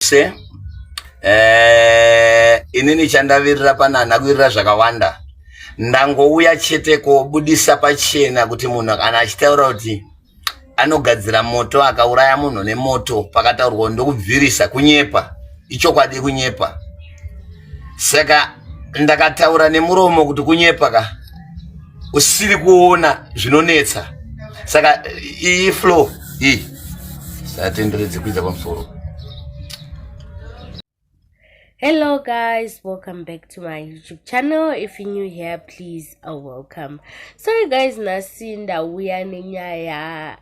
se eh, inini chandavirira pano hana kuvirira zvakawanda ndangouya chete kobudisa pachena kuti munhu kana achitaura kuti anogadzira moto akauraya munhu nemoto pakataurwa ndokubvirisa kunyepa ichokwadi kunyepa Saka ndakataura nemuromo kuti kunyepa ka usiri kuona zvinonetsa saka iyi flow iyi satenderedze kuita pamusoro hello guys welcome back to my youtube channel if you new here please are welcome sorry guys nhasi ndauya nenyaya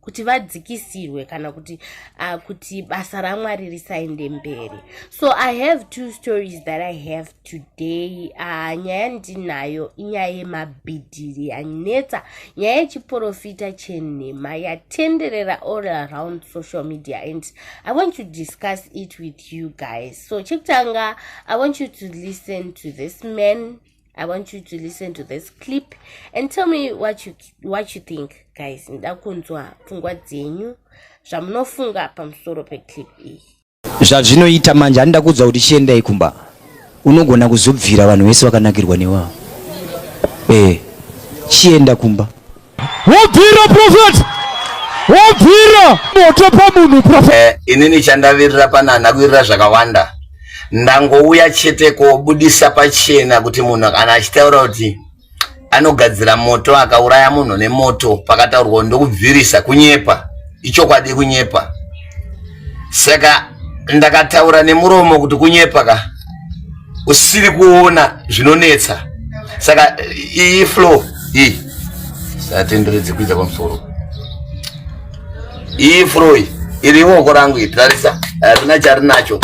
kuti vadzikisirwe kana kuti uh, kuti basa ramwari risaende mberi so i have two stories that i have today uh, nyaya ndinayo inyaya yemabhidhiri yanetsa nyaya yechiprofita chenhema yatenderera all around social media and i want to discuss it with you guys so chekutanga i want you to listen to this man i want you to listen to this clip and tell me what you, what you think guys nda kunzwa pfungwa dzenyu zvamunofunga pamusoro peclip iyi zvazvinoita manje handida kuudza kuti chiendai kumba unogona kuzobvira vanhu vese vakanakirwa newavo e eh, chienda kumba wobvira prophet wobvira moto pamunhu prophet eh, inini chandavirira panana kuvirira zvakawanda ndangouya chete kobudisa pachena kuti munhu kana achitaura kuti anogadzira moto akauraya munhu nemoto pakataurwa ndokubvirisa kunyepa ichokwadi kunyepa saka ndakataura nemuromo kuti kunyepa ka usiri kuona zvinonetsa saka iyi flow iyi satenderedze kuita kwamusoro iyi flow iyi iri iwoko rangu iyi tarisa harina charinacho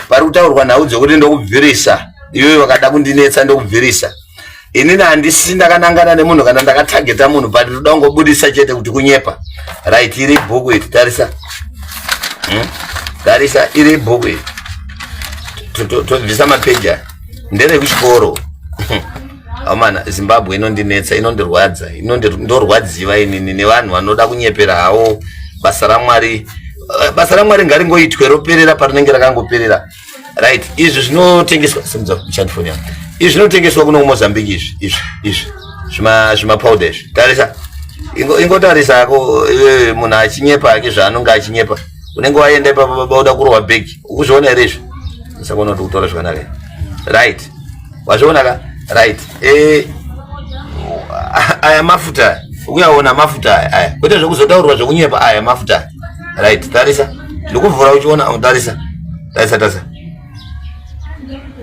pari kutaurwa nhau dzekuti ndokubvirisa iyoyo vakada kundinetsa ndokubvirisa inini handisisi ndakanangana nemunhu kana ndakatageta munhu but ndoda kungobudisa chete kuti kunyepa right iri bhuku iri tarisa hmm? tarisa iri bhuku iri tobvisa mapeji aya nderekuchikoro amana zimbabwe inondinetsa inondirwadza ndorwadziva inini nevanhu vanoda kunyepera hawo basa ramwari eh, basa ramwari ngaringoitwe roperera parinenge rakangoperera right izvi zvinotengeswa simudza kuchandi foni yangu izvi zvinotengeswa kuno kumozambique izvi izvi izvi zvima zvimapowder izvi tarisa ingotarisa ingo ako iwe munhu achinyepa ake zvaanonge achinyepa unenge waenda ipapo baba uda kurohwa bhegi ukuzviona here izvi saka unoti kutora zvakanaka right wazviona ka right e, aya mafuta aya uyaona mafuta aya aya kwete zvekuzotaurirwa zvekunyepa aya mafuta aya right tarisa ndikuvhura uchiona oh, tarisa tarisa tarisa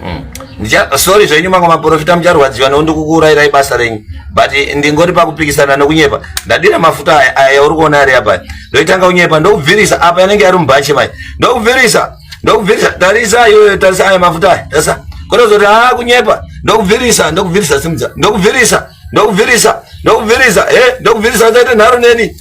hmm. ndicha sorry zvenyu mamwe maprofita mucharwadziwa noo ndikukuurayirai basa renyu but ndingori pakupikisana nokunyepa ndadira mafuta aya aya yauri kuona ari apa ndoitanga kunyepa ndokubvirisa apa yanenge yari mubhachi mai ndokubvirisa ndokubvirisa tarisa iyoyo tarisa aya mafuta aya tarisa kotozoti haa ah, kunyepa ndokubvirisa ndokubvirisa simudza ndokubvirisa ndokubvirisa ndokubvirisa e eh, ndokubvirisa usaite nharo neni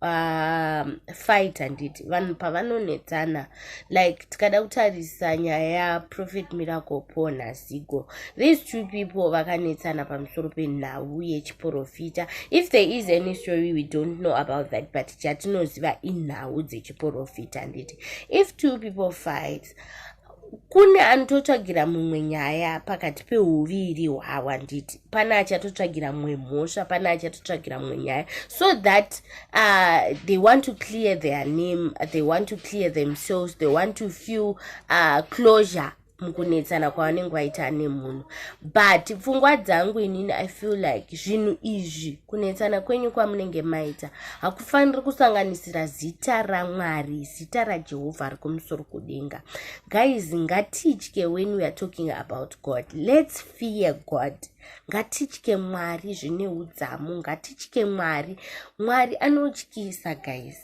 pafight um, handiti vanhu pavanonetsana like tikada kutarisa nyaya yaprofet miracle paul nazigo these two people vakanetsana pamusoro penhau yechiporofita if there is any story we don't know about that but chatinoziva inhau dzechiporofita handiti if two people fight kune anototsvagira mumwe nyaya pakati peuviri hwavo handiti pane achatotsvagira mumwe mhosva pane achatotsvagira mumwe nyaya so that uh, they want to clear their name they want to clear themselves they want to feel uh, closure mukunetsana kwavanenge vaita nemunhu but pfungwa dzangu inini i feel like zvinhu izvi kunetsana kwenyu kwamunenge maita hakufaniri kusanganisira zita ramwari zita rajehovha ari kumusoro kudenga guys ngatitye when weare talking about god lets fear god ngatitye mwari zvine udzamu ngatitye mwari mwari anotyisa guys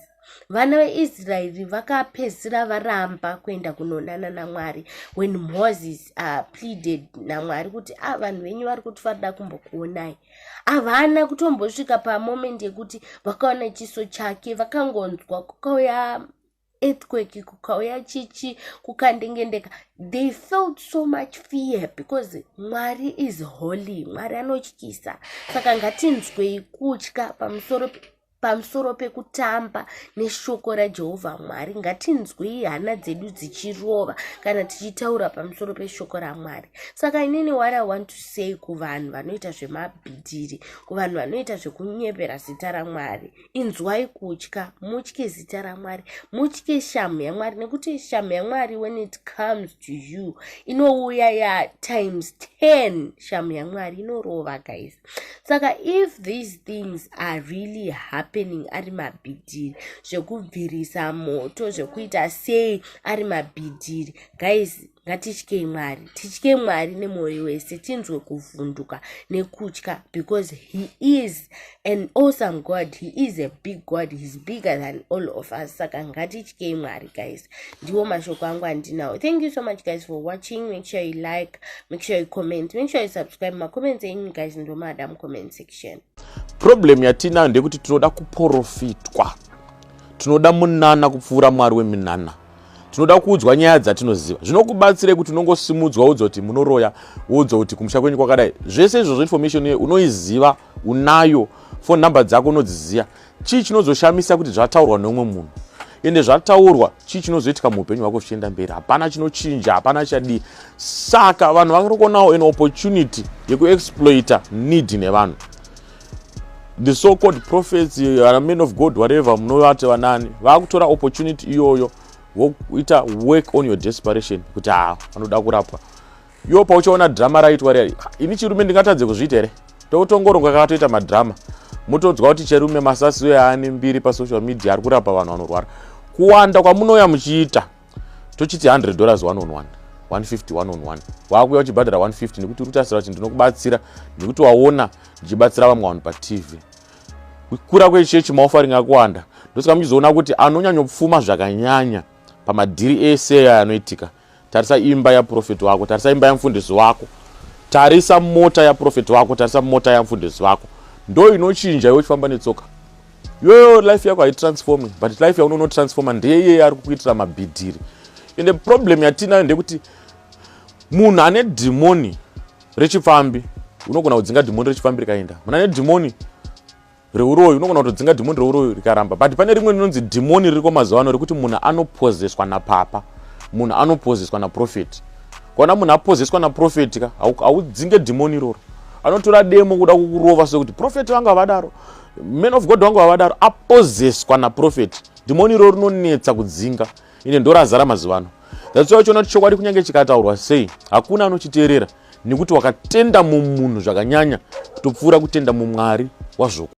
vana veisraeri vakapedzisira varamba kuenda kunonana namwari when moses uh, pleaded namwari kuti a ah, vanhu venyu vari kuti varida kumbokuonai havana kutombosvika pamomendi yekuti vakaona chiso chake vakangonzwa kukauya earthquake kukauya chichi kukandengendeka they felt so much fear because mwari is holy mwari anotyisa saka ngatinzwei kutya pamusoro pamusoro pekutamba neshoko rajehovha mwari ngatinzwei hana dzedu dzichirova kana tichitaura pamusoro peshoko ramwari saka inini what i want to say kuvanhu vanoita zvemabhidhiri kuvanhu vanoita zvekunyepera zita ramwari inzwai kutya mutye zita ramwari mutye shamhu yamwari nekuti shamhu yamwari when it comes to you inouya ya times 10 shamhu yamwari inorova guys saka if these things are really happening ari mabhidhiri zvekubvirisa moto zvekuita sei ari mabhidhiri guys ngatityei mwari tityei mwari nemwoyo wese tinzwe kuvhunduka nekutya because he is an awesome god he is a big god heis bigger than all of us saka ngatityei mwari guys ndiwo mashoko angu andinawo thank you so much guys for watching make sure you like make sure you comment make sure you subscribe macomments enyu guys ndomada mucomment section problem yatiinayo ndeyekuti tinoda kuprofitwa tinoda munana kupfuura mwari weminana tinoda kuudzwa nyaya dzatinoziva zvinokubatsirei kuti unongosimudzwa woudzwa kuti munoroya woudzwa kuti kumusha kwenyu kwakadai zvese izvozvo information iyoyo unoiziva unayo foni number dzako unodziziva chii chinozoshamisa kuti zvataurwa neumwe munhu ende zvataurwa chii chinozoitika muupenyu hwako zvichienda mberi hapana chinochinja hapana chadii saka vanhu vakarikonawo an opportunity yekuexploita need nevanhu the so called prophets uh, men of god whatever munovati vanani vakutora opportunity iyoyo voita work on your desperation kuti ha ah, vanoda kurapwa iwo pauchaona drama raitwa riya ini chirume ndingatadze kuzviita here tokutongoronga kakatoita madrama mutodzwa kuti cherume masasi uye aane mbiri pasocial media ari kurapa vanhu vanorwara kuwanda kwamunouya muchiita tochiti 100 dollars one on one 150 one on one waakuya uchibhadhara 150 nekuti uri kutasira kuti ndinokubatsira nekuti waona ndichibatsira vamwe vanhu patv kukura kwechechi maofaring akuwanda ndosaka muchizoona kuti anonyanyopfuma zvakanyanya pamadhiri ese aya anoitika tarisa imba yaprofeti wako tarisa imba yamfundisi wako tarisa mota yaprofeti wako tarisa mota yamfundisi wako ndo inochinja iwe uchifamba netsoka iyoyo life yako haitransformi but life yaunonotransforma ndeye iyeye ari kukuitira mabhidhiri ende problem yatiinayo ndekuti munhu ane dhimoni rechipfambi unogona kudzinga dhimoni rechipfambi rikaenda munhu ane dhimoni reuroyi unogona kutodzinga dhimoni reuroyi rikaramba but pane rimwe rinonzi dhimoni ririko mazuva ano rekuti munhu anopozeswa napapa munhu anopozeswa naprofeti kwaona munhu apozeswa naprofeti ka haudzinge dhimoni iroro anotora demo kuda kukurova sekuti profeti vanga vadaro man of god wangu vavadaro apozeswa naprofeti dhimoni iro rinonetsa kudzinga ine ndorazara mazuva ano that's why uchiona kuti chokwadi kunyange chikataurwa sei hakuna anochiteerera nekuti wakatenda mumunhu zvakanyanya kutopfuura kutenda mumwari wazvoku